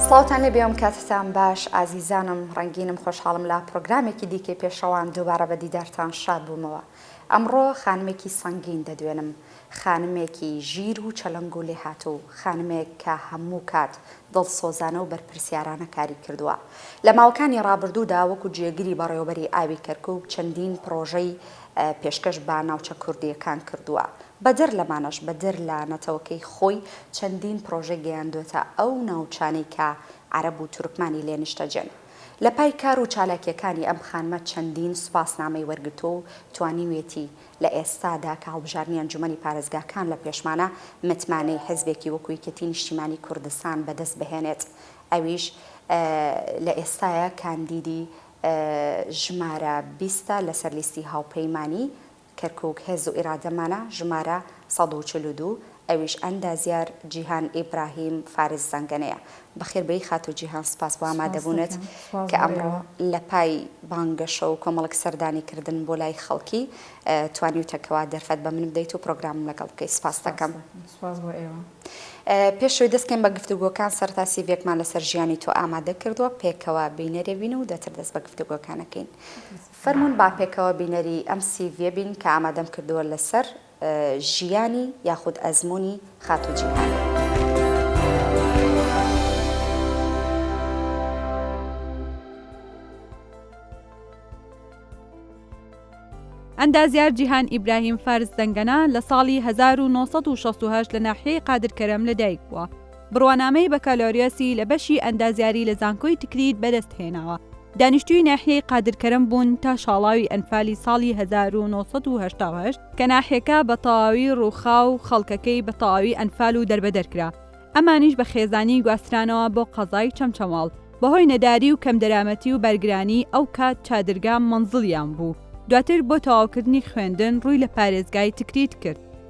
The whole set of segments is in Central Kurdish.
سڵاوتان لێ بێم کاتتان باش ئازیزانم ڕەنگینم خۆشحاڵم لە پرۆگرامێکی دیکەی پێشەوان دووبارە بە دیدارتان شاد بوومەوە ئەمڕۆ خانمێکی سەنگین دەدوێنم خانمێکی ژیر و چەلەنگ و لێهاتوو، خانمێک کە هەموو کات دڵسۆزانە و بەرپرسیارانە کاری کردووە. لە ماوەکانی ڕابردوودا وەکو جێگری بەڕێوەبەری ئاوی کەرکوک چەندین پڕۆژەی پێشکەش بە ناوچە کوردییەکان کردووە. بەدەر لەمانەش بەدەر لە نەتەوەکەی خۆی چەندین پڕۆژەی گەیاندووەتە ئەو ناوچانەی کە عەرەب و تورکمانی لێ نیشتەجێن. لەپای کار و چالاکییەکانی ئەم خانمە چەندین سوپاسنامەی وەرگرتووە و توانیوێتی لە ئێستادا کە هەڵبژاردنی ئەنجومەنی پارێزگاکان لە پێشمانە، متمانەی حزبێکی وەکو یەکێتی نیشتیمانی کوردستان بەدەست بهێنێت ئەویش لە ئێستایە کاندیدی ژمارە بیستە لەسەر لیستی هاوپەیمانی کەرکوک هێز و ئیرادەمانە ژمارە سەد و چل و دوو ئەویش ئەندازیار جیهان ئیبراهیم فارس زەنگەنەیە بەخێربێی خاتوو جیهان سپاس بۆ ئامادەبوونت کە ئەمڕۆ لە پای بانگەشە و کۆمەڵک سەردانی کردن بۆ لای خەڵکی توانیوتە کەوا دەرفەت بە من بدەیت و پرۆگرامم لەگەڵ بکەیت سپاس دەکەم پێش ئەوەی دەستکەین بە گفتوگۆکان سەرتا سیڤێکمان لەسەر ژیانی تۆ ئامادە کردووە پێکەوە بینەرێ بین و دەتر دەست بە گفتوگۆکانەکەین فەرموون با پێکەوە بینەری ئەم سیڤیە بین کە ئامادەم کردووە لەسەر ژیانی یاخود ئەزموونی خاتوو جیهان. ئەندازیار جیهان ئیبراهیم فارس زەنگەنە لە ساڵی هەزار و نۆ سەد و شەست و هەشت لە ناحیەی قادرکەرەم لەدایکبووە، بڕوانامەی بەکالۆریۆسی لە بەشی ئەندازیاری لە زانکۆی تکریت بەدەست هێناوە. دانیشتووی ناحیەی قادرکەرەم بوون تا شاڵاوی ئەنفالی ساڵی هەزار و نۆ سەد و هەشتا و هەشت کە ناحیەکە بە تەواوی ڕووخا و خەڵکەکەی بە تەواوی ئەنفال و دەربەدەر کرا. ئەمانیش بە خێزانی گواسترانەوە بۆ قەزای چەمچەماڵ. بەهۆی نەداری و کەمدەرامەتی و بارگرانی ئەو کات چادرگا مەنزڵیان بوو. دواتر بۆ تەواوکردنی خوێندن ڕووی لە پارێزگای تکریت کرد.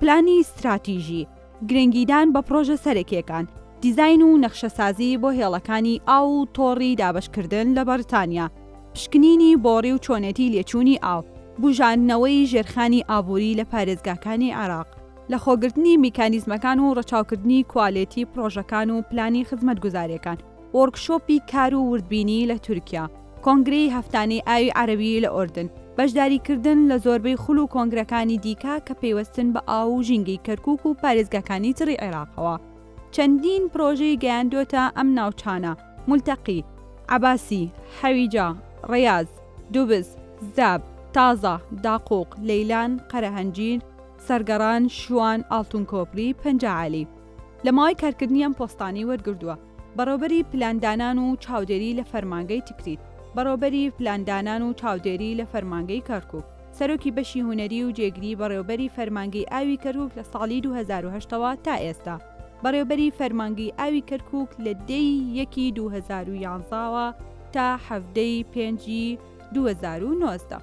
پلانی ستراتیژی، گرنگیدان بە پڕۆژە سەرەکییەکان، دیزاین و نەخشەسازی بۆ هێڵەکانی ئاو و تۆڕی دابەشکردن لە بەڕیتانیا، پشکنینی بۆڕی و چۆنێتی لێچوونی ئاو، بوژاندنەوەی ژێرخانی ئابووری لە پارێزگاکانی عێراق، لەخۆگرتنی میکانیزمەکان و ڕەچاوکردنی کوالێتی پڕۆژەکان و پلانی خزمەتگوزارییەکان. وۆرکشۆپی کار و وردبینی لە تورکیا، کۆنگرەی هەفتانەی ئاوی عەرەوی لە ئۆردن، بەشداریکردن لە زۆربەی خول و کۆنگرەکانی دیکە کە پەیوەستن بە ئاو و ژینگەی کەرکووک و پارێزگاکانی تڕی عێراقەوە، چەندین پڕۆژەی گەیاندۆتە ئەم ناوچانە، مولتەقی، عەباسی، حەویجە، ڕەیاز، دوبز، زاب، تازە، داقووق، لەیلان، قەرەهەنجیر، سەرگەڕان، شوان، ئاڵتون کۆپری، پەنجە عەلی. لە ماوەی کارکردنی ئەم پۆستانەی وەرگردووە، بەڕێوەبەری پلاندانان و چاودێری لە فەرمانگەی تکریت، بەڕێوەبەری پلاندانان و چاودێری لە فەرمانگەی کەرکووک، سەرۆکی بەشی هونەری و جێگری بەڕێوەبەری فەرمانگەی ئاوی کەرکووک لە ساڵی دوو هەزار و هەشت ەوە تا ئێستا بەڕێوەبەری فەرمانگەی ئاوی کەرکووک لە دە ی یەکی دوو هەزار و یازدە وە تا حەڤدە ی پێنج ی 2019.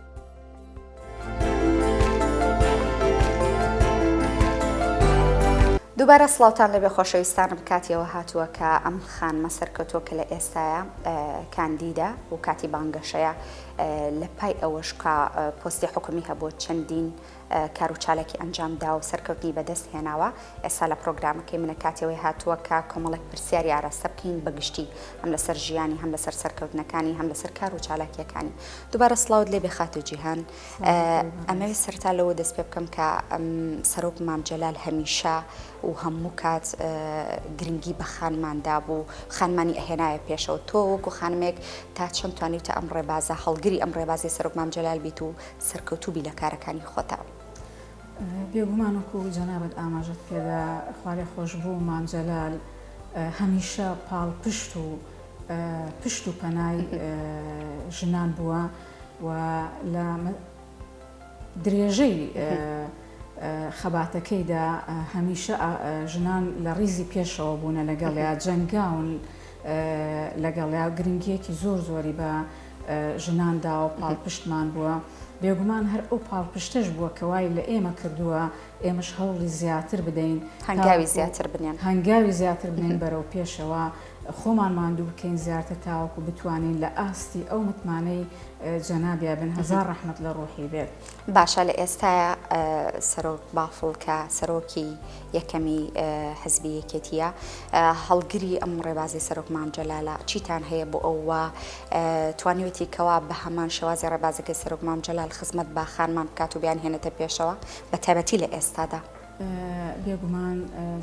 دووبارە سڵاوتان لەبێ خۆشەویستانم کاتیەوە هاتووە کە ئەم خانمە سەرکەوتووە کە لە ئێستاە کاندیدە و کاتی بانگەشەیە لە پای ئەوەشکا پۆستی حکومی هەبوو چەندین کار و چالاکی ئەنجام داوە و سەرکەوتنی بەدەست هێناوە، ئێستا لە پرۆگرامەکەی منە کاتی ئەوەی هاتووە کە کۆمەڵێک پرسیاری ئاراستە بکەین بە گشتی هەم لەسەر ژیانی هەم لەسەر سەرکەوتنەکانی هەم لەسەر کار و چالاکیەکانی دووبارە سڵاوت لێ بێ خاتوو جیهان ئەمەوێت سەرتا لەوە دەست پێ بکەم کە سەرۆک مام جەلال هەمیشە و هەموو کات گرنگی بە خانمان دابوو خانمانی ئەهێنایە پێشەوە تۆ وەکو خانمێک تا چەند توانی تا ئەم ڕێبازە هەڵگری ئەم ڕێبازی سەرۆک مام جەلال بیت و سەرکەوتوبی لە کارەکانی خۆتا. بێگومان وەکو جەنابت ئاماژەت پێدا خوالێخۆشبوو مام جەلال هەمیشە پاڵپشت و پشت و پەنای ژنان بووە و لە درێژەی خەباتەکەیدا هەمیشە ژنان لە ڕیزی پێشەوە بوونە لەگەڵیا جەنگاون لەگەڵیا گرنگیەکی زۆر زۆری بە ژناندا و پاڵپشتمان بووە، بێگومان هەر ئەو پاڵپشتەش بووە کە وای لە ئێمە کردووە ئێمەش هەوڵی زیاتر بدەین، هەنگاوی زیاتر بنێن بەرەو پێشەوە، خۆمان ماندوو بکەین زیاتر تاوەکو بتوانین لە ئاستی ئەو متمانەی جەنابیان بن، هەزار ڕەحمەت لە ڕوحی بێت. باشە لە ئێستایا سەرۆک بافڵ کە سەرۆکی یەکەمی حزبی یەکێتیە هەڵگری ئەم ڕێبازی سەرۆک مام جەلالە چیتان هەیە بۆ ئەو وا توانیوێتی کەوا بە هەمان شێوازی ڕێبازەکەی سەرۆک مام جەلال خزمەت بە خانمان بکات و بیان هێنێتە پێشەوە بە تایبەتی لە ئێستادا. بێگومان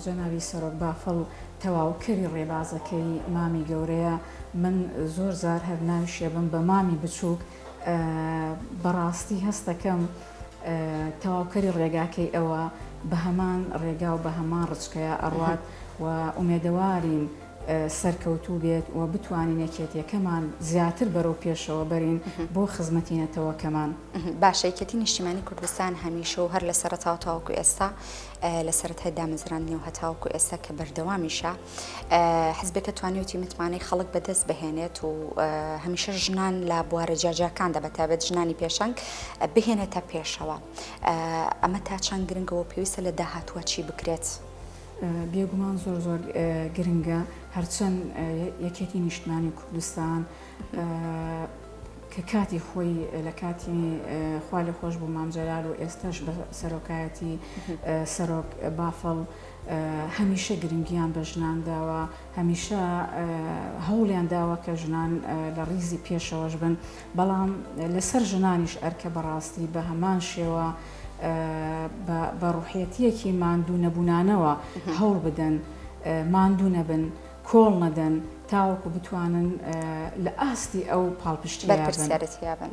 جەنابی سەرۆک بافڵ تەواوکەری ڕێبازەکەی مامی گەورەیە، من زۆر جار هەر ناوی شێبم بە مامی بچووک، بەڕاستی هەستەکەم تەواوکەری ڕێگاکەی ئەوە بە هەمان ڕێگا و بە هەمان ڕچکەیە ئەڕوات و ئومێدەوارین سەرکەوتوو بێت و بتوانین یەکێتیەکەمان زیاتر بەرەو پێشەوە بەرین بۆ خزمەتی نەتەوەکەمان باشەکێتی نیشتیمانی کوردستان هەمیشە و هەر لە سەرتاوتاوکو ئێستا لە سەرەتای دامەزراندنی و هەتاوکو ئێستا کە بەردەوامیشە حزبەکە توانیوتی متمانەی خەڵک بەدەست بهێنێت و هەمیشە ژنان لە بوارە جیاجاکاندا بە تابەت ژنانی پێشنگ بهێنێتە پێشەوە ئەمە تا چەند گرنگەوە پێویستە لە داهاتوە چی بکرێت. بێگومان زۆر زۆر گرنگە هەرچەند یەکێتی نیشتمانی کوردستان کە کاتی خۆی لە کاتی خوا لە خۆش بوو مامجلال و ئێستش بە سەرۆکایەتی سەرۆک بافڵ هەمیشە گرنگیان بە ژنان داوە، هەمیشە هەوڵیان داوە کە ژنان لە ڕیزی پێشەوەش بن، بەڵام لەسەر ژنانیش ئەرکە بەڕاستی بە هەمان شێوە بە ڕوحیەتیەکی ماندوو نەبوونانەوە هەوڵ بدەن ماندوو نەبن، کۆڵ نەدەن تاوەکو بتوانن لە ئاستی ئەو پاڵپشتیە بن.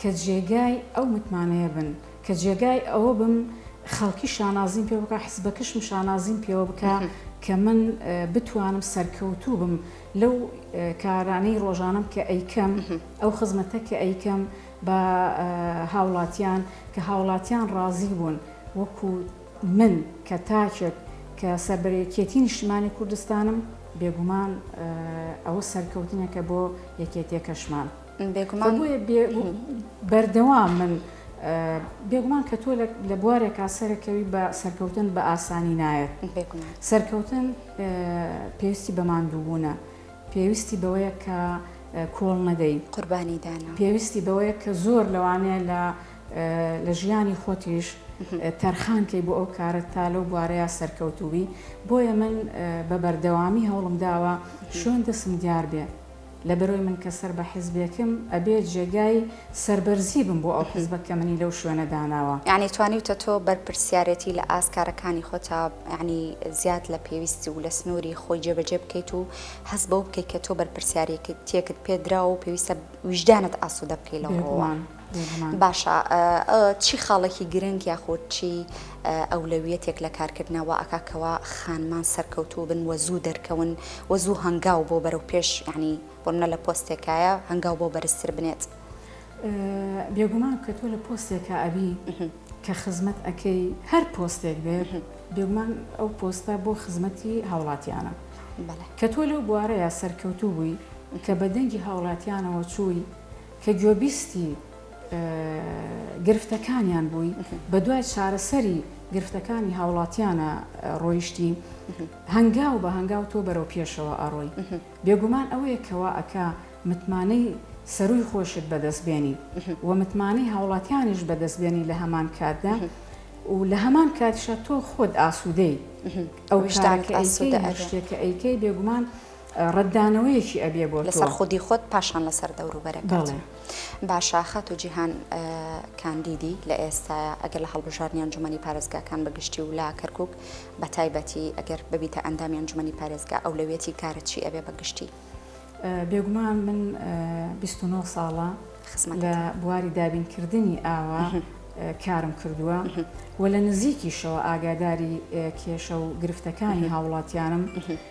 کە جێگای ئەو متمانەیە بن، کە جێگای ئەوە بم خەڵکی شانازیم پێوە بکا، حزبەکەشم شانازیم پێوە بکا کە من بتوانم سەرکەوتوو بم لەو کارانەی ڕۆژانەم کە ئەیکەم، ئەو خزمەتە کە ئەیکەم بە هاوڵاتیان، کە هاوڵاتیان ڕازی بوون وەکو من کە تاکێک کە سەربەرەکێتی نیشتمانی کوردستانم، بێگومان ئەوە سەرکەوتنێکە بۆ یەکێتیەکەشمان. بێگومان بۆیە بێ بەردەوام من بێگومان کە تۆ لە بوارێکا سەرەکەوی بە سەرکەوتن بە ئاسانی نایەت سەرکەوتن پێویستی بە ماندووبوونە پێویستی بەوەیە کە کۆڵ نەدەی قوربانی دانا پێویستی بەوەیە کە زۆر لەوانەیە لە لە ژیانی خۆتیش تەرخانکەی بۆ ئەو کارە تا لەو بوارەیە سەرکەوتوبی بۆیە من بە بەردەوامی هەوڵم داوە شوێن دەسم دیار بێ لەبەرۆی من کە سەر بە حیزبێکم ئەبێ جێگای سەربەرزی بم بۆ ئەو حیزبە کە منی لەو شوێنە داناوە. یەعنی توانیوتە تۆ بەرپرسیارێتی لە ئاست کارەکانی خۆتا یەعنی زیاد لە پێویست و لە سنووری خۆی جێبەجێ بکەیت و هەست بەوە بکەیت کە تۆ بەرپرسیارێکتیەکت پێ دراوە و پێویستە ویژدانت ئاسوودە بکەی لەو ڕۆوە. بێگومان. باشە چی خاڵێکی گرنگ یاخود چی ئەولەویەتێک لە کارکردنا وا ئەکا کەوا خانمان سەرکەوتوو بن وە زوو دەرکەون وە زوو هەنگاو بۆ بەرەو پێش یعنی بۆ منە لە پۆستێکایە هەنگاو بۆ بەرزتر بنێت؟ بێگومان کە تۆ لە پۆستێکا ئەبی کە خزمەت ئەکەی هەر پۆستێک بێت بێگومان ئەو پۆستە بۆ خزمەتی هاوڵاتیانە کە تۆ لەو بوارەیە سەرکەوتوو بووی کە بە دەنگی هاوڵاتیانەوە چووی کە گوێبیستی گرفتەکانیان بووین، بەدوای چارەسەری گرفتەکانی هاوڵاتیانە ڕۆیشتین، هەنگاو بە هەنگاو تۆ بەرەو پێشەوە ئەڕۆی. بێگومان ئەوەیە کە وا ئەکا متمانەی سەرووی خۆشت بەدەست بێنی و متمانەی هاوڵاتیانیش بەدەست بێنی لە هەمان کاتدا و لە هەمان کاتیشا تۆ خۆت ئاسوودەی. ئەو شتانە کە ئەیکەی، هەر شتێک کە ئەیکەی بێگومان، ڕەتدانەوەیەکی ئەبێ بۆ تۆ. لەسەر خودی خۆت پاشان لەسەر دەوروبەرەکەت. بەڵێ. باشە خاتوو جیهان کاندیدی لە ئێستایە ئەگەر لە هەڵبژاردنی ئەنجومەنی پارێزگاکان بە گشتی و لە کەرکوک بە تایبەتی ئەگەر ببیتە ئەندامی ئەنجومەنی پارێزگا ئەولەویەتی کارت چی ئەبێ بە گشتی؟ بێگومان من بیست و نۆ ساڵە لە بواری دابینکردنی ئاوە کارم کردووە و لە نزیکیشەوە ئاگاداری کێشە و گرفتەکانی هاوڵاتیانم.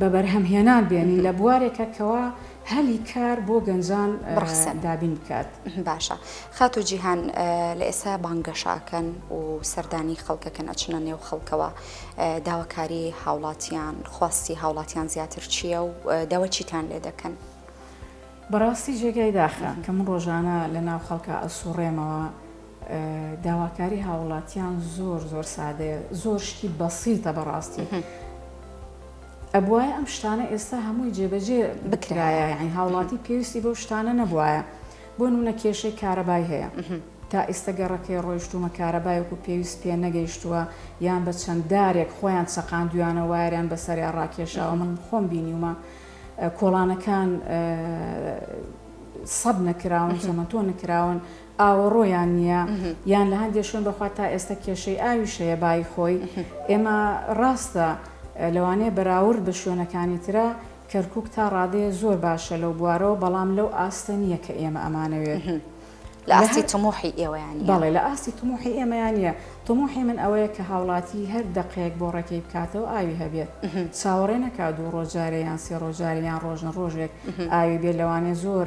بەبەرهەمهێنان بێنین لە بوارێکە کەوا هەلی کار بۆ گەنجان دابین بکات. باشە خاتو جیهان لە ئێستا بانگەشاکەن و سەردانی خەڵکەکەن ئەچنە نێو خەڵکەوە داواکاری هاوڵاتیان خواستی هاوڵاتیان زیاتر چییە و داوای چیتان لێ دەکەن؟ بەڕاستی جێگای داخە کە من ڕۆژانە لە ناو خەڵکا ئەسوڕێمەوە، داواکاری هاوڵاتیان زۆر زۆر سادەیە زۆر شتی بەسیتە بەڕاستی ئەبواە ئەم شتانە ئێستا هەمووی جێبەجێ بکرایە یعنی هاوڵاتی پێویستی بەو شتانە نەبواە بۆ نونە کێشەی کارەبای هەیە تا ئێستا گەڕەکەی ڕۆیشتومە کارەبایەکو پێویست پێ نەگەیشتووە یان بە چەنددارێک خۆیان سەقان دویانە وایران بەسەریا ڕاکێشاوە من خۆم بینیومە کۆڵانەکان سەد نەکراون زەمەتۆ نکراون ئاوەڕۆیان نییە یان لە هەندێ شوێن بەخوا تا ئێستا کێشەی ئاویش هەیە بایی خۆی ئێمە ڕاستە لەوانەیە بەراورد بە شوێنەکانی ترا کەرکوک تا ڕادەیە زۆر باشە لەو بوارەوە بەڵام لەو ئاستە نییە کە ئێمە ئەمانەوێ لە ئاستی تموحی ئێوەیان بەڵێ لە ئاستی تموحی ئێمەیان نییە تموحی من ئەوەیە کە هاوڵاتی هەر دەقەیەک بۆ ڕێکەی بکاتەوە ئاوی هەبێت چاوەڕێ نەکا دوو ڕۆژ جارێ یان سێ ڕۆژ جارێ یان ڕۆژنە ڕۆژێک ئاوی بێ لەوانێ زۆر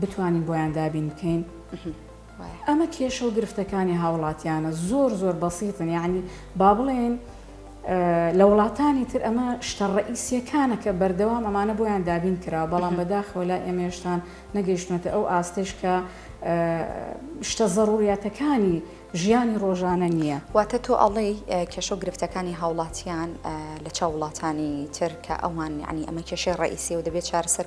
بتوانین بۆیان دابین بکەین وایە. ئەمە کێشە و گرفتەکانی هاوڵاتیانە زۆر زۆر بەسیتن یاعنی با بڵێین لە وڵاتانی تر ئەمە شتە ڕئیسیەکانە کە بەردەوام ئەمانە بۆیان دابین کرا بەڵام بەداخەوە لای ئێمێشتان نەگەیشتمەتە ئەو ئاستش کە شتە زەڕوریاتەکانی ژیانی ڕۆژانە نییە واتە تۆ ئەڵێ کێشە و گرفتەکانی هاوڵاتیان لە چاو وڵاتانی تر کە ئەوان ینی ئەمە کێشەی ڕئیسی و دەبێت چارەسەر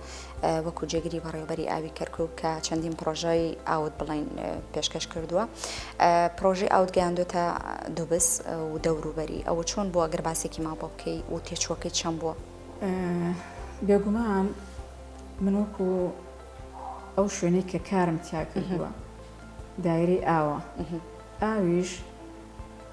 وەکو جێگری بەڕێوبەری ئاوی کەرکک کە چەندین پرۆژای ئاوت بڵین پێشکەش کردووە پرۆژی ئاوت گەیاندۆتە دوبس و دەوروبەری ئەوە چۆن بۆ ئەگەر باسێکی ما بۆ بکەی و تێچوەکەی چەند بووە بێگومان من وەکو ئەو شوێنەی کە کارم تیاکردووە دایرەی ئاوە ئاویش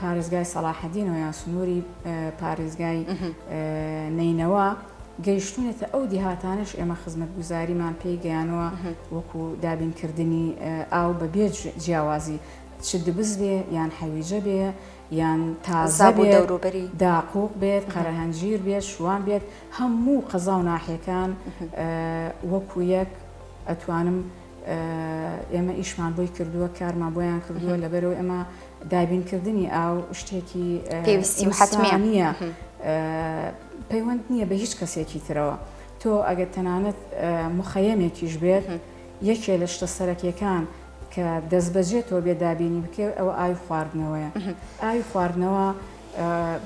پارێزگای سەڵاحەدینەوە یان سنووری پارێزگای نەینەوا گەیشتونێتە ئەو دیهاتانش ئێمە خزمەتگوزاریمان پێی گەیانەوە وەکو دابینکردنی ئاو بە بێ جیاوازی چ دبز بێ یان حەویجە بێ یان تازە بێ دەوروبەری داقوق بێت قەرەهەنجیر بێت شوان بێت هەموو قەزا و ناحیەکان وەکو یەک ئەتوانم ئێمە ئیشمان بۆی کردووە کارمان بۆیان کردووە لەبەرەوە ئەمە دابینکردنی ئاو شتێکی پێویستی حتمە نییە پەیوەند نییە بە هیچ کەسێکی ترەوە تۆ ئەگەر تەنانەت مخەیەمێکیش بێت یەکێ لە شتە سەرەکیەکان کە دەست بەجێ تۆ بێ دابینی بکێ ئەوە ئاوی خواردنەوەیە ئاوی خواردنەوە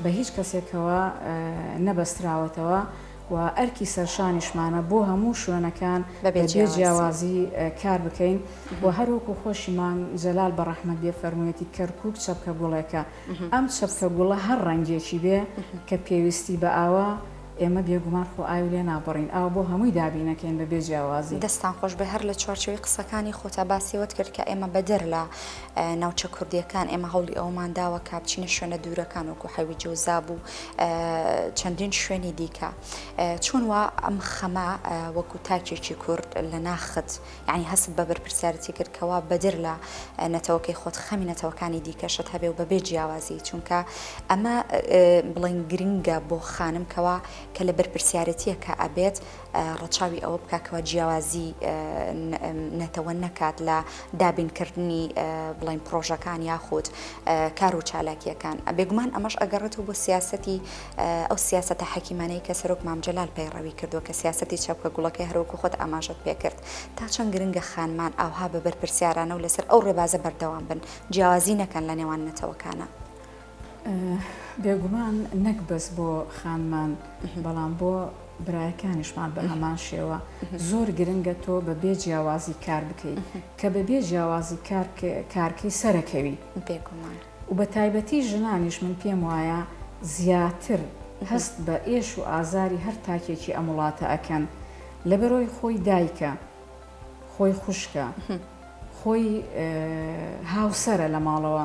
بە هیچ کەسێکەوە نەبەستراوەتەوە و ئەرکی سەرشانیشمانە بۆ هەموو شوێنەکان بە بێ جیاوازی کار بکەین و هەر وەکو خۆشی مام جەلال بە ڕەحمەت بێ فەرموویەتی کەرکووک چەپکە گوڵێکە ئەم چەپکە گوڵە هەر ڕەنگێکی بێ کە پێویستی بە ئاوە ئێمە بێگومان خۆ ئاوی لێ نابڕین ئاو بۆ هەمووی دابینەکەین بە بێ جیاوازی. دەستتان خۆش بێ هەر لە چوارچێوەی قسەکانی خۆتا باسی ئەوەت کرد کە ئێمە بەدەر لە ناوچە کوردییەکان ئێمە هەوڵی ئەوەمان داوە کە بچینە شوێنە دوورەکان وەکو حەوی جەوزاب و چەندین شوێنی دیکە چۆن وا ئەم خەمە وەکو تاکێکی کورد لە ناخت یعنی هەست بە بەرپرسیارەتی کرد کەوا بەدر لە نەتەوەکەی خۆت خەمی نەتەوەکانی دیکەشت هەبێ و بەبێ جیاوازی چونکە ئەمە بڵین گرنگە بۆ خانم کەوا کە لە بەرپرسیارەتیە کە ئەبێت ڕەچاوی ئەوە بکات کەوا جیاوازی نەتەوە نەکات لە دابینکردنی بڵین پرۆژەکان یاخود کار و چالاکیەکان بێگومان ئەمەش ئەگەڕێتەوە بۆ سیاستی ئەو سیاستە حەکیمانەی کە سەرۆک مامجلال پەیڕەوی کردووە کە سیاستی چاپکە گوڵەکەی هەروەکو خۆت ئاماژت پێکرد تا چەند گرنگە خانمان ئاوها بە بەرپرسیارانە و لەسەر ئەو ڕێبازە بەردەوام بن جیاوازی نەکەن لە نێوان نەتەوەکانە. بێگومان نەک بەس بۆ خانمان بەڵام بۆ برایەکانیشمان بە هەمان شێوە زۆر گرنگە تۆ بە بێ جیاوازی کار بکەیت کە بە بێ جیاوازی کارکەی سەرەکەوی بێگومان و بە تایبەتی ژنانیش من پێم وایە زیاتر هەست بە ئێش و ئازاری هەر تاکێکی ئەم وڵاتە ئەکەن لە بەرۆی خۆی دایکە خۆی خوشکە خۆی هاوسرە لە ماڵەوە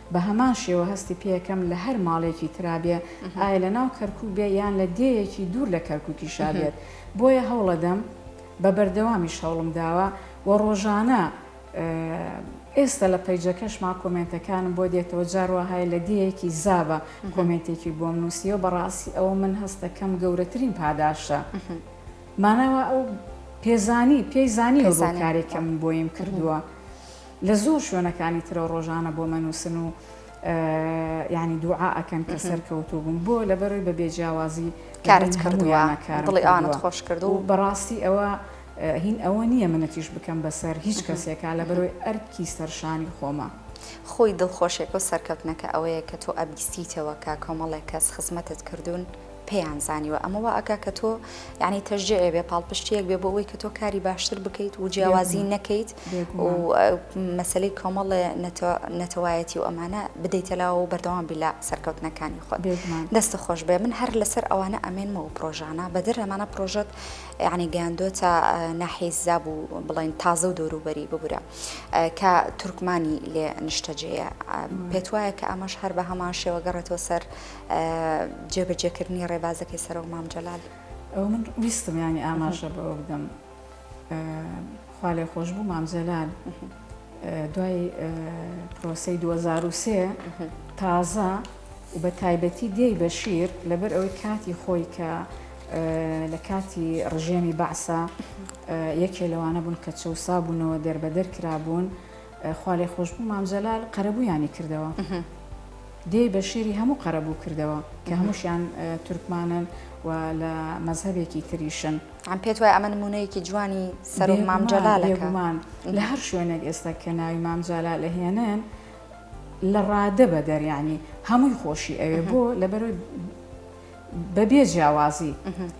بە هەمان شێوە هەستی پێکەم لە هەر ماڵێکی ترا بێ، ئایا لە ناو کەرکووک بێ یان لە دێیەکی دوور لە کەرکووکیشا بێت. بۆیە هەوڵەدەم، بە بەردەوامیش هەوڵم داوە و ڕۆژانە ئێستا لە پەیجەکەشما کۆمێنتەکانم بۆ دێتەوە، جار وا هەیە لە دێیەکی زابە کۆمێنتێکی بۆم نووسیوە، بەڕاستی ئەوە من هەست دەکەم گەورەترین پاداشتە. مانا وا ئەو پێزانی، پێی زانیوە بۆ کارێک کە من بۆیم کردووە. لە زۆر شوێنەکانی ترەوە ڕۆژانە بۆمە نووسن و یانی دوعا ئەکەن کە سەر کەوتو بووم بۆ لەبەرەوەی بە بێ جیاوازی کارت کردووە دڵی ئەوانت خۆش کرد و بەڕاستی ئەوە هین ئەوە نییە منەتیش بکەم بەسەر هیچ کەسێکا لە بەرۆی ئەرکی سەرشانی خۆمە. خۆی دڵخۆشێکە و سەرکەوتنەکە ئەوەیە کە تۆ ئەبیستیتەوە کە کۆمەڵێک کەس خزمەتت کردوون پێیان زانیوە ئەمە وا ئەکا کە تۆ یانی تەشجیعێ بێ پاڵپشتیەک بێ بۆ ئەوەی کە تۆ کاری باشتر بکەیت و جیاوازی نەکەیت و مەسلەی کۆمەڵێ نەتەوایەتی و ئەمانە بدەیتەلاوە و بەردەوام بیلا سەرکەوتنەکانی خۆت دەستە خۆش بێ من هەر لەسەر ئەوانە ئەمێنمەوە پرۆژانە بەدر ئەمانە پرۆژەت یعنی گەیاندۆتە ناحیزاب و بڵین تازە و دەوروبەری ببورە کە تورکمانی لێ نیشتەجێە پێت وایە کە ئەمەش هەر بە هەمان شێوە گەڕێتەوە سەر جێبەجێکردنی ڕێبازەکەی سەرۆک مام جەلال. ئەوە من ویستم یانی ئاماژە بەوە بدەم خوا لێ خۆش بوو مام جەلال دوای پرۆسەی 2023 تازە و بە تایبەتی دێی بەشیر لەبەر ئەوەی کاتی خۆی کە لە کاتی ڕژێمی بەعسا یەکێ لەوانە بوون کە چەسا بوونەوە دەربەدەر کرابوون خوالێخۆشبوو مام جەلال قەرەبوویانی کردەوە دێی بە شێری هەموو قەرەبوو کردەوە کە هەمووشیان تورکمانن و لە مەذهبێکی تریشن ئەم پێت وای ئەمە نمونەیەکی جوانی سەر مامجللا لەگومان لە هەر شوێنێک ئێستا کە ناوی مامجللا لە هێنن لە ڕادە بە دەریانی هەمووی خۆشی ئەوێ بۆ لەبەر بەبێ جیاوازی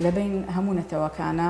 لەبین هەموو نەتەوەکانە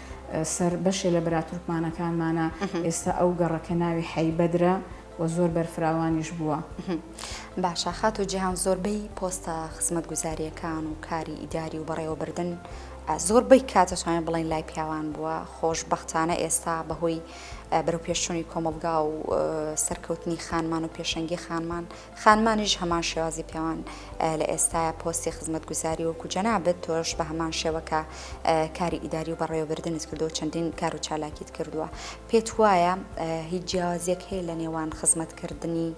سەر بەشێ لە برا تورکمانەکانمانە ئێستا ئەو گەڕەکە ناوی حەی بەدرە و زۆر بەرفراوانیش بووە باشە خات و جیهان زۆربەی پۆستە خزمەت گوزاریەکان و کاری ئیداری و بەڕێوەبردن زۆربەی کاتەتوانێت بڵین لای پیاوان بووە خۆش بەختانە ئێستا بەهۆی بەرەو پێشچووی کۆمەلگا و سەرکەوتنی خانمان و پێشەنگی خانمان خانمانیش هەمان شێوازی پێوان لە ئێستایە پۆستی خزمەتگوزاری وەکو جەنابت تۆش بە هەمان شێوەکە کاری ئیداری و بەڕێوەبردنت کردو چەندین کار و چالاکیت کردووە پێت وایە هیچ جیاوازیەک هەیە لە نێوان خزمەتکردنی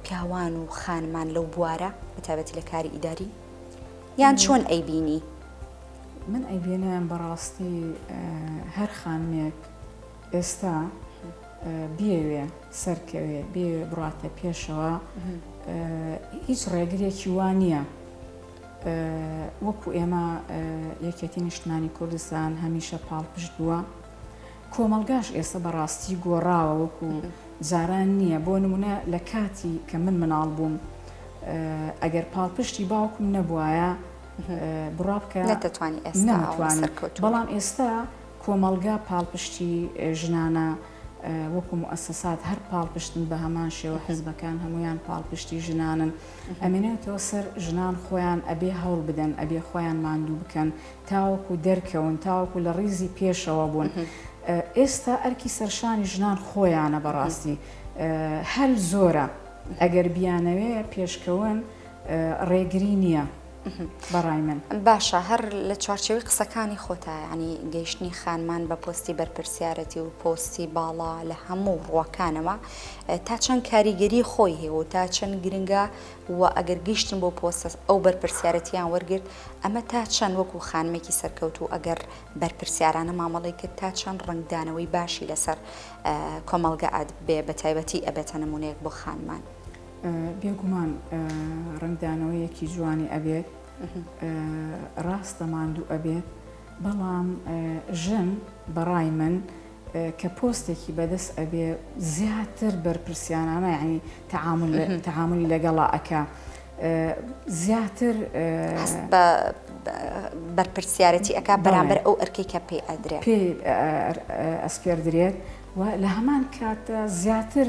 پیاوان و خانمان لەو بوارە بەتابەتی لە کاری ئیداری یان چۆن ئەیبینی؟ من ئەیبێنم بەڕاستی هەر خانمێک ئێستا بیەوێ سەرکەوێ بیەوێ بڕاتە پێشەوە هیچ ڕێگرێکی وا نییە وەکو ئێمە یەکێتی نیشتمانی کوردستان هەمیشە پاڵپشت بووە کۆمەلگاش ئێستا بەڕاستی گۆڕاوە وەکو جاران نییە بۆ نمونە لە کاتی کە من مناڵ بووم ئەگەر پاڵپشتی باوکم نەبواە بڕابکە نەتوانانی ئێستا بەڵام ئێستا کۆمەڵگا پاڵپشتی ژنانە وەکو موئەسەسات هەر پاڵپشتن بە هەمان شێوە حزبەکان هەمویان پاڵپشتی ژنانن ئەمێنێتەوە سەر ژنان خۆیان ئەبێ هەوڵ بدەن ئەبێ خۆیان ماندوو بکەن تاوەکو دەرکەون تاوەکو لە ڕیزی پێشەوە بوون ئێستا ئەرکی سەرشانی ژنان خۆیانە بەڕاستی هەل زۆرە ئەگەر بیانەوێ پێشکەون ڕێگری نییە. بەڕای من. باشە هەر لە چوارچێوەی قسەکانی خۆتا یانی گەیشتنی خانمان بە پۆستی بەرپرسیارەتی و پۆستی باڵا لە هەموو ڕووەکانەوە تا چەند کاریگەری خۆی هەیە و تا چەند گرنگە و ئەگەر گەیشتن بۆ پۆستە ئەو بەرپرسیارەتیان وەرگرت ئەمە تا چەند وەکو خانمێکی سەرکەوتوو ئەگەر بەرپرسیارانە مامەڵەی کرد تا چەند ڕەنگدانەوەی باشی لەسەر کۆمەڵگە ئەدبێ بە تایبەتی ئەبێتە نمونەیەک بۆ خانمان. بێگومان ڕەنگدانەوەیەکی جوانی ئەبێت ڕاستە ماندوو ئەبێت بەڵام ژن بەڕای من کە پۆستێکی بەدەست ئەبێ زیاتر بەرپرسیانانە ینی تعامل تعاملی لەگەڵا ئەکە زیاتر بە بەرپرسیارەتی ئەک بەرامبەر ئەو ئەرکی کە پێ ئەدرێت پێ ئەسپێردرێت و لە هەمان کاتە زیاتر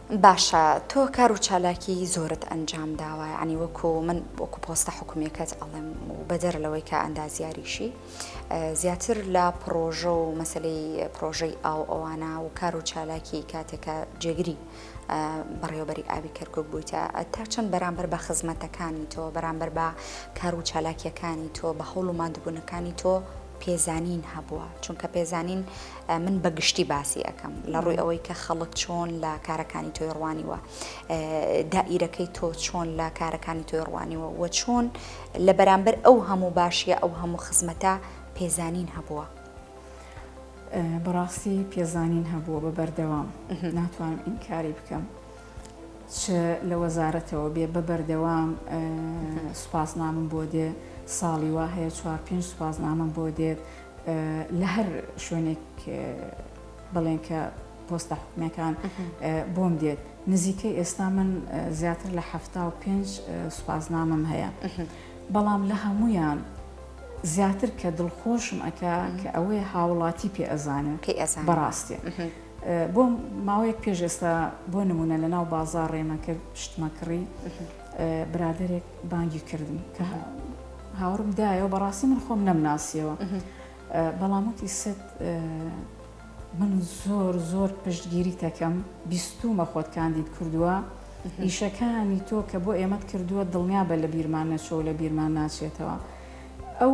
باشە تۆ کار و چالاکی زۆرت ئەنجام داوە یانی وەکو من وەکو پۆستە حکومیەکەت ئەڵێم و بەدەر لەوەی کە ئەندازیاریشی زیاتر لە پڕۆژە و مەسلەی پرۆژەی ئاو ئەوانە و کار و چالاکی کاتێکە جێگری بەڕێوەبەری ئاوی کەرکک بوویتە تا چەند بەرامبەر بە خزمەتەکانی تۆ بەرامبەر بە کار و چالاکیەکانی تۆ بە هەوڵ و مادبوونەکانی تۆ پێزانین هەبووە چونکە پێزانین من بە گشتی باسی ئەەکەم لە ڕووی ئەوەی کە خەڵک چۆن لە کارەکانی تۆی ڕوانیوە دائیرەکەی تۆ چۆن لە کارەکانی تۆی ڕوانیوە و چۆن لە بەرامبەر ئەو هەموو باشیە ئەو هەموو خزمەتە پێزانین هەبووە. بەڕاستی پێزانین هەبووە بە بەردەوام ناتوانم ئینکاری بکەم چ لە وەزارەتەوە بێ بە بەردەوام سوپاسنامم بۆ دێ ساڵی وا هەیە چوار پێنج سوپاسنامم بۆ دێت لە هەر شوێنێک بڵێن کە پۆستە حکومەکان بۆم دێت نزیکە ئێستا من زیاتر لە هەفتا و پێنج سوپاسنامم هەیە بەڵام لە هەمویان زیاتر کە دڵخۆشم ئەک کە ئەوەیە هاوڵاتی پێ ئەزانن پێ ئەزان بەڕاستێ. بۆ ماوەیەک پێش ئێستا بۆ نمونە لە ناو بازار ڕێمە کرد شتمە کڕی برادێک بانگی کردم کە هاوڕم دایەوە بەڕاستی من خۆم نەمناسیەوە بەڵام وتی ست من زۆر زۆر پشتگیری تەکەم بیستومە خۆت کاندید کردووە ئیشەکانی تۆ کە بۆ ئێمەت کردووە دڵنیا بە لە بیرمان نەچۆ لە بیرمان ناچێتەوە ئەو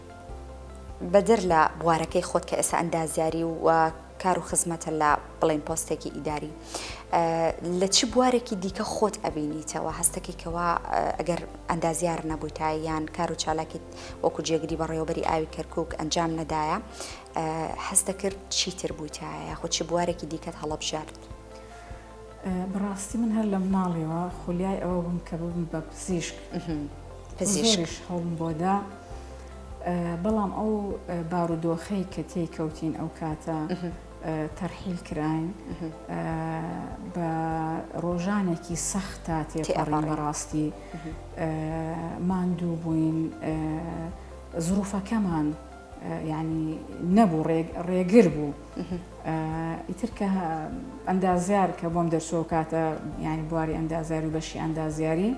بەدەر لە بوارەکەی خۆت کە ئێستا ئەندازیاری و کار و خزمەتە لە بڵێن پۆستێکی ئیداری لە چ بوارێکی دیکە خۆت ئەبینیتەوە هەستەکەیکەوە ئەگەر ئەندازیار نەبوویتە یان کار و چالاکیت وەکو جێگری بەڕێوەبەری ئاوی کەرکک ئەنجام نەدایە هەستەکرد چیتر بوویتە یاخود چ بوارێکی دیکەت هەڵبژارد بەڕاستی من هەر لەمناڵیەوە خولیای ئەوە بووم کە ببم بە پزیشک پزیشکش هەوڵم بۆدا بەڵام ئەو بارودۆخەی کە تێی کەوتین ئەو کاتە تەرحیل کراین بە ڕۆژانێکی سەختا تێپەڕی بەڕاستی ماندوو بووین زروفەکەمان یانی نەبوو ڕێگر بوو ئیتر کە ئەندازیار کە بۆم دەرچەوە کاتە ینی بواری ئەندازیار و بەشی ئەندازیاری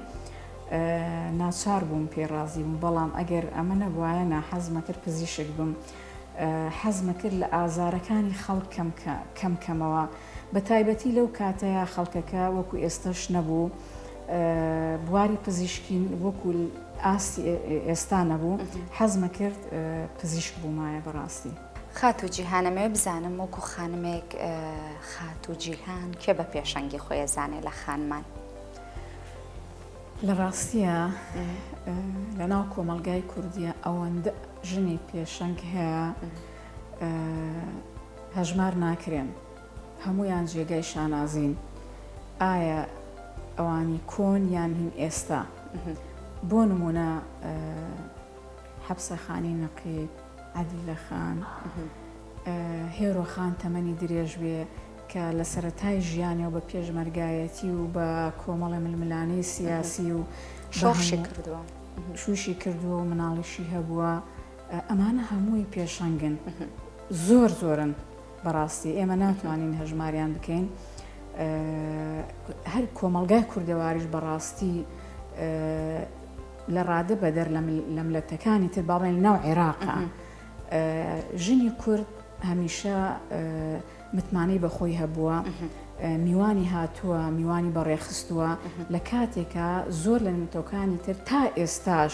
ناچار بووم پێ ڕازی بووم بەڵام ئەگەر ئەمە نەبواە ناحەزمە کرد پزیشک بم حەزمە کرد لە ئازارەکانی خەڵک کەم کەم کەمەوە بە تایبەتی لەو کاتەیە خەڵکەکە وەکو ئێستش نەبوو بواری پزیشکیم وەکو ئاستی ئێستا نەبوو حەزمە کرد پزیشک بوومایە بەڕاستی. خاتوو جیهان ئەمەوێ بزانم وەکو خانمێک خاتوو جیهان کێ بە پێشەنگی خۆی ئەزانێ لە خانمان؟ لە ڕاستیە لە ناو کۆمەلگای کوردیە ئەوەندە ژنی پێشەنگ هەیە هەژمار ناکرێن. هەموویان جێگای شانازین ئایا ئەوانی کۆن یان هین ئێستا بۆ نمونە حەبسە خانی نەقیب عادلە خان هێرۆ خان تەمەنی درێژ بێ کە لە سەرەتای ژیانەوە بە پێشمەرگایەتی و بە کۆمەڵی ململانەی سیاسی و شۆشی کردووە شوشی کردووە و مناڵیشی هەبووە ئەمانە هەمووی پێشەنگن زۆر زۆرن بەڕاستی ئێمە ناتوانین هەژماریان بکەین هەر کۆمەلگای کوردەواریش بەڕاستی لە ڕادە بەدەر لە ملەتەکانی تر باڵێن ناو عێراقە ژنی کورد هەمیشە متمانەی بەخۆی هەبووە میوانی هاتووە میوانی بەڕێخستووە لە کاتێکە زۆر لە نوتۆکانی تر تا ئێستاش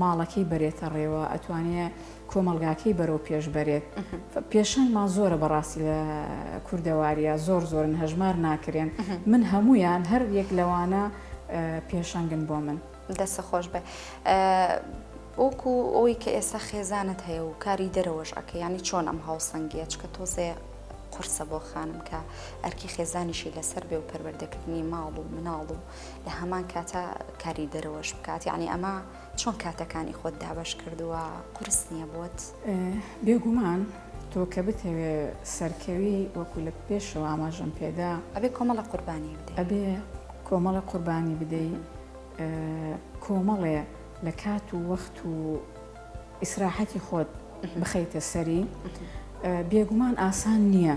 ماڵەکەی بەرێتە ڕێوە ئەتوانێ کۆمەلگاکەی بەرەو پێش بەرێت پێشەنگمان زۆرە بەڕاستی لە کوردەواریە زۆر زۆرن هەژمار ناکرێن من هەمویان هەر یەک لەوانە پێشەنگن بۆ من دەسە خۆش بێ. وەکو ئەوی کە ئێستا خێزانت هەیە و کاری دەرەوەش ئەکە ینی چۆن ئەم هاوسەنگیە چکە تۆزێ قرسە بۆ خانم کە ئەرکی خێزانیشی لەسەر بێ و پەروەردەکردنی ماڵ و مناڵ و لە هەمان کاتا کاری دەرەوەش بکات یعنی ئەمە چۆن کاتەکانی خۆت دابش کردووە قرس نییە بۆت بێگومان تۆ کە بتەوێ سەرکەوی وەکو لە پێشەوە ئاماژەم پێدا ئەبێ کۆمەڵە قوربانی ئەبێ کۆمەڵە قوربانی بدەی کۆمەڵێ لە کات و وەخت و ئیسراحەتی خۆت بخەیتە سەری بێگومان ئاسان نییە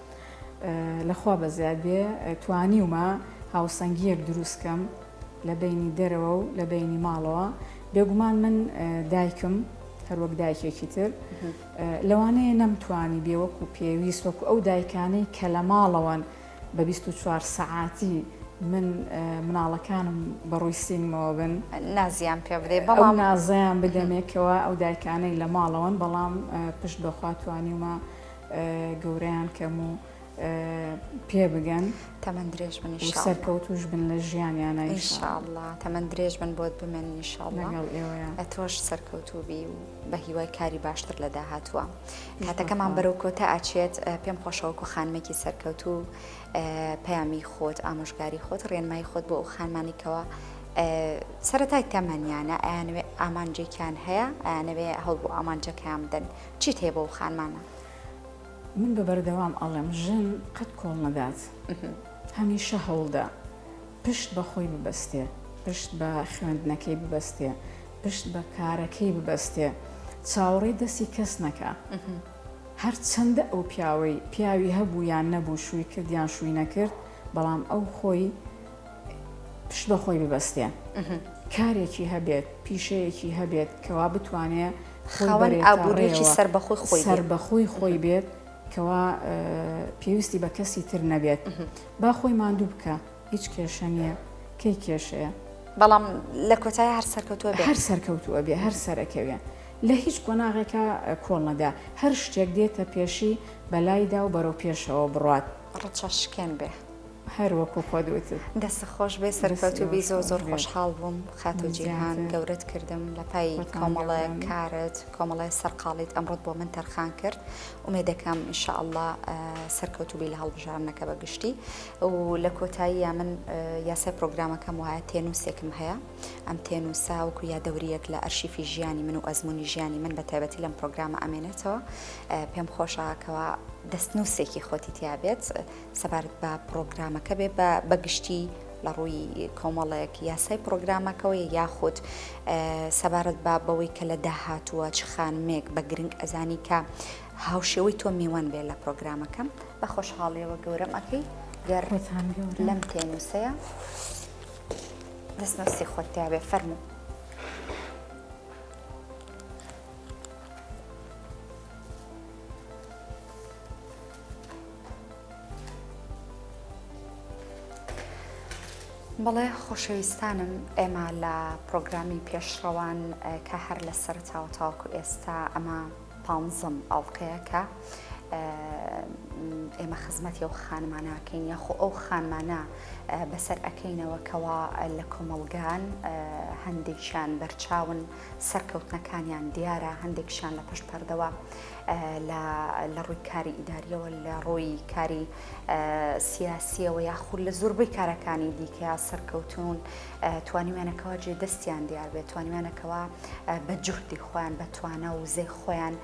لە خوا بەزیاد بێ توانیومە هاوسەنگییەک دروست کەم لە بەینی دەرەوە و لە بەینی ماڵەوە بێگومان من دایکم هەروەک دایکێکی تر لەوانەیە نەمتوانی بێوەک و پێویست وەکو ئەو دایکانەی کە لە ماڵەوەن بە 24 سەعاتی من مناڵەکانم بەڕووی سینمەوە بن نازیان پێ بدێ بەڵام نازیان بدەمێکەوە ئەو دایکانەی لە ماڵەوەن بەڵام پشت بەخواتوانیمە گەورەیان کەم و پێ بگەن تەمەەن درێژ بن سەرکەوتوش بن لە ژیانیانە ئیشاءله تەمەەن درێژ بن بۆت بمێن نیشاڵڵە ئەتۆش سەرکەوتوبی و بە هیوای کاری باشتر لە داهاتوە هاتەکەمان بەرەو کۆتا ئاچێت پێم خۆشەوەکو خانمێکی سەرکەوت و پەیامی خۆت ئامۆژگاری خۆت ڕێنمای خۆت بۆ ئەو خانمانێکەوە سەتای تەمەنیانە ئەیانوێ ئامانجێکیان هەیە ئەیانەوێ هەڵ بۆ ئامانجەکەیان بدەن چیت هەیە بۆ ئەو خانمانە؟ من بە بەردەوام ئەڵێم ژن قەت کۆڵ نەدات هەمیشە هەوڵدە پشت بە خۆی ببەستێ پشت بە خوێندنەکەی ببەستێ پشت بە کارەکەی ببەستێ چاوەڕێی دەستی کەس نەکە هەر چەندە ئەو پیاوەی پیاوی هەبوو یان نەبوو شووی کردیان شووی نەکرد بەڵام ئەو خۆی پشت بە خۆی ببەستێ کارێکی هەبێت پیشەیەکی هەبێت کەوا بتوانێ ئابووریکی سەر بەخۆی خۆی سەر بەخۆی خۆی بێت کەوا پێویستی بە کەسی تر نەبێت با خۆی ماندوو بکە هیچ کێشە نییە کەی کێشەیە بەڵام لە کۆتای هەر سەرکەوتوە هەر سەرکەوتووە بێ هەر سەرەکەوێ لە هیچ قۆناغێکە کۆڵنەدا هەر شتێک دێتە پێشی بەلایدا و بەرەو پێشەوە بڕات ڕچەشکێن بێ. هەر وەکو خۆت وتت. دەستت خۆش بێت سەرکەوتو بی زۆر زۆر خۆشحاڵ بووم خاتو جیهان گەورەت کردم لە پای کۆمەڵە کارت کۆمەڵە سەرقاڵیت ئەمڕۆت بۆ من تەرخان کرد ئومێدەکەم ان شاء اللە سەرکەوتو بی لە هەڵبژاردنەکە بە گشتی و لە کۆتاییا من یاسای پرۆگرامەکەم وایە تێنووسێکم هەیە ئەم تێنووسا وەکو یادەوریەک لە ئەرشیفی ژیانی من و ئەزمونی ژیانی من بە تایبەتی لەم پرۆگرامە ئەمێنێتەوە پێم خۆشە کەوا دەستنووسێکی خۆتی تیا بێت سەبارەت بە پڕۆگرامەکە بێ بە بە گشتی لە ڕووی کۆمەڵێک یاسای پڕۆگرامەکەەوە یاخود سەبارەت بە بەوەی کە لە داهاتووە چ خانمێک بە گرنگ ئەزانی کە هاوشێوەی تۆ میوان بێ لە پرۆگرامەکەم بە خۆشحاڵیەوە گەورەم ئەەکەی گەر لەم پێنووسەیە دەستنووسی خۆت تیاێ فەرموو. بەڵێ خۆشەویستانم ئێمە لە پرۆگرامی پێشڕەوان کە هەر لە سەرتاوە تاوکو ئێستا ئەمە پانزم ئەڵلقەیە کە ئێمە خزمەتی ئەو خانماناکەین یاخۆ ئەو خانمانە بەسەر ئەەکەینەوە کەوا لە کۆمەڵگان هەندێکیان بەرچاون سەرکەوتنەکانیان دیارە هەندێکشان لە پشت پەردەوە لە لە ڕووی کاری ئیداریەوە لە ڕووی کاری سیاسیەوە یاخود لە زۆربەی کارەکانی دیکە سەرکەوتون توانیوانەکەەوە جێ دەستیان دیار بێت توانیوانەکەەوە بە جوهدی خۆیان بە توانە و زێ خۆیان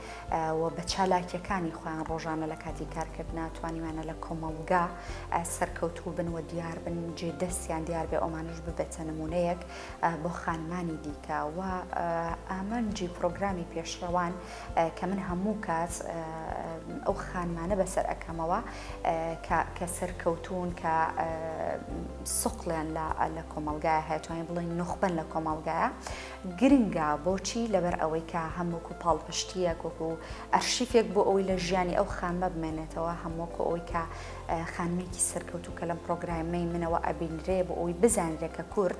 و بە چالاکیەکانی خۆیان ڕۆژانە لە کاتی کارکردنا توانیوانە لە کۆمەڵگا سەرکەوتوو بن و دیار بن جێ دەستیان دیار بێ ئەومانش ببێتە نمونەیەک بۆ خانمانی دیکە و ئامانجی پرۆگرامی پێشڕەوان کە من هەموو کات ئەو خانمانە بەسەر ئەەکەمەوە کە سەرکەوتون کە سقلیان لە کۆمەلگای هەتوانین بڵین نخبەن لە کۆمەلگایە گرنگە بۆچی لەبەر ئەوەی کە هەمووکو پاڵپشتیە کۆک و ئەرشیفێک بۆ ئەوەی لە ژیانی ئەو خانمە بمێنێتەوە هەمووکو ئەوەی کە خانمێکی سەرکەوتو کە لەم پرۆگرامەی منەوە ئەبینرێ بۆ ئەوی بزانرێکە کورد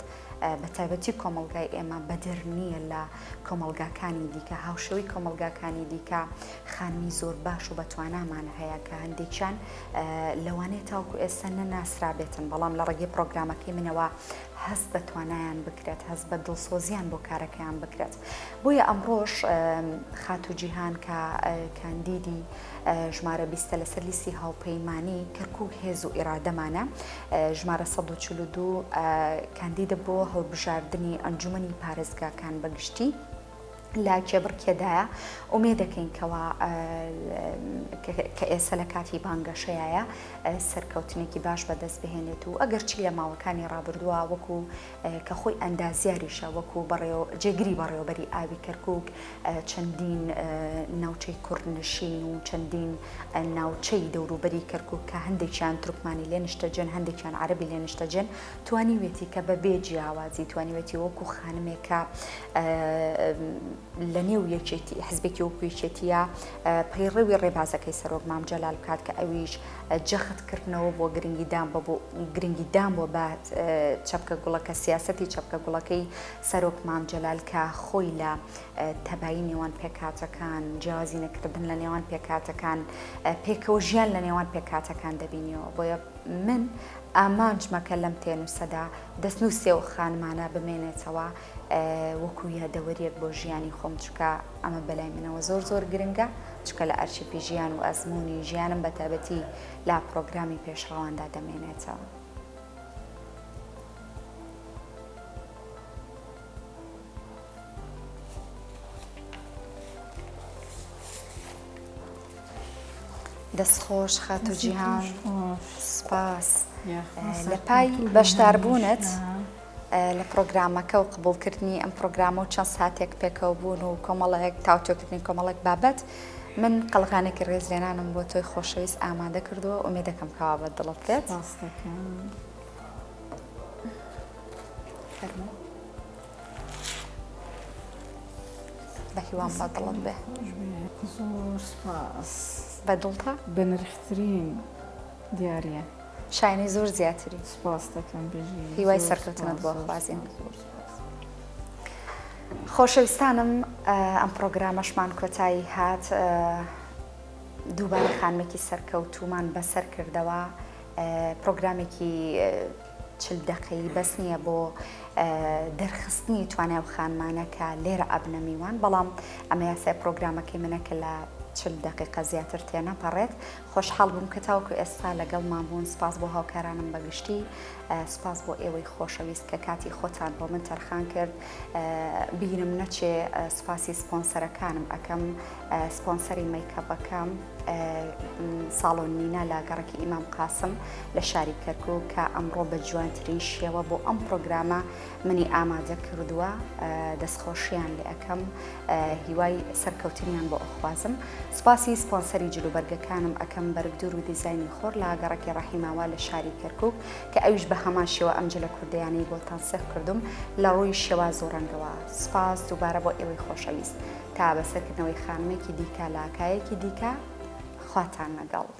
بە تایبەتی کۆمەلگای ئێمە بەدر نییە لە کۆمەڵگاکانی دیکە، هاوشێوەی کۆمەڵگاکانی دیکە خانمی زۆر باش و بەتوانامان هەیە کە هەندێکیان لەوانەیە تاوکو ئێستا نەناسرابێتن بەڵام لە ڕێگەی پرۆگرامەکەی منەوە هەست بە توانایان بکرێت هەست بە دڵسۆزیان بۆ کارەکەیان بکرێت بۆیە ئەمڕۆش خاتو جیهان کە کاندیدی ژمارە بیستە لەسەر لیستی هاوپەیمانی کەرکک هێز و ئێرادەمانە ژمارە سەد و چل و دوو کاندیدە بۆ هەڵبژاردنی ئەنجومەنی پارێزگاکان بەگشتی لە کێبڕکێدایە ئومێ دەکەین کەوا کە ئێستا لە کاتی بانگەشەیە سەرکەوتنێکی باش بەدەست بهێنێت و ئەگەرچی لە ماوەکانی ڕابردووە وەکو کە خۆی ئەندازیاریشە وەکو بەڕێوە جێگری بەڕێوەبەری ئاوی کەرکک چەندین ناوچەی کوردنشین و چەندین ناوچەی دەوروبەری کەرکک کە هەندێکیان ترکمانی لێ نیشتەجێن هەندێکیان عربی لێ نیشتەجێن توانیوێتی کە بە بێ جیاوازی توانیوێتی وەکو خانمێکە لە نێو یەکێتی حزبێکی وەکوێکێتیە پەیڕەوی ڕێبازەکەی سەرۆک مام جەلال بکات کە ئەویش جەخت کردنەوە بۆ گرنگیدان بە گرنگیدان بۆ بە چەپکە گوڵەکە سیاسەتی چەپکە گوڵەکەی سەرۆک مام جەلال کە خۆی لە تەبایی نێوان پێکاتەکان جیازی نەکردن لە نێوان پێکاتەکان پێکەوە ژیان لە نێوان پێکاتەکان دەبینیەوە بۆیە من ئامانجمەکە لەم تێنووسەدا دەستنووسێ و خانمانە بمێنێتەوە وەکو یادەوەریەک بۆ ژیانی خۆم چکە ئەمە بەلای منەوە زۆر زۆر گرنگە چکە لە ئەرشیفی ژیان و ئەزمموی ژیانم بە تابەتی لا پرۆگرامی پێشڕەواندا دەمێنێتەوە. دەستخۆش خاتو جیهان سپاس لە پای بەشداربوونت. لە پڕۆگرامەکە و قبوڵکردنی ئەم پڕۆگرامە و چەند ساتێک پێکەوە بوون و کۆمەڵێک تاوتۆکردنی کۆمەڵێک بابەت من قەڵغانێکی ڕێزلێنانم بۆ تۆی خۆشەویست ئامادە کردووە و مێدەکەم کەوا بە دڵت بێت بە هیوام بە دڵت بێ بە دڵتە بە نرخترین دیارە. شایەنی زۆر زیاتری. سپاست دەکەم بژی. هیوای زۆر سەرکەوتنت سپاس بۆ زۆر خوازین. سپاس زۆر سپاس. خۆشەویستانم ئەم پڕۆگرامەشمان کۆتایی هات ئە دووبارە خانمێکی سەرکەوتوومان بەسەر کردەوە ئە پڕۆگرامێکی ئە چل دەقەیی بەس نییە بۆ ئە دەرخستنی توانای ئەو خانمانە کە لێرە ئەبنە میوان بەڵام ئەمە یاسای پڕۆگرامەکەی منە کە لە چل دەقیقە زیاتر تێنەپەڕێت خۆشحاڵ بووم کە تاوەکو ئێستا لەگەڵمان بوون، سپاس بۆ هاوکارانم بە گشتی، سپاس بۆ ئێوەی خۆشەویست کە کاتی خۆتان بۆ من تەرخان کرد، بیرم نەچێ سپاسی سپۆنسەرەکانم ئەکەم، سپۆنسەری مەیکەپەکەم ساڵۆن نینا لە گەڕەکی ئیمام قاسم لە شاری کەرکووک کە ئەمڕۆ بە جوانترین شێوە بۆ ئەم پڕۆگرامە منی ئامادە کردووە دەستخۆشیان لێ ئەکەم هیوای سەرکەوتنیان بۆ ئەخوازم سوپاسی سپۆنسەری جلوبەرگەکانم ئەکەم بەرگدور و دیزایانی خۆر لە گەڕکی ڕەحیماوا لە شاری کەرکک کە ئەویش بە هەمان شێوە ئەم جلە کوردیانەی بۆ تەنسیق کردم لە ڕووی شێواز و ڕەنگەوە سوپاس دووبارە بۆ ئێوەی خۆشەویست تا بەسەرکردنەوەی خانمێکی دیکە لاکایەکی دیکە خواتان نەگەڵ.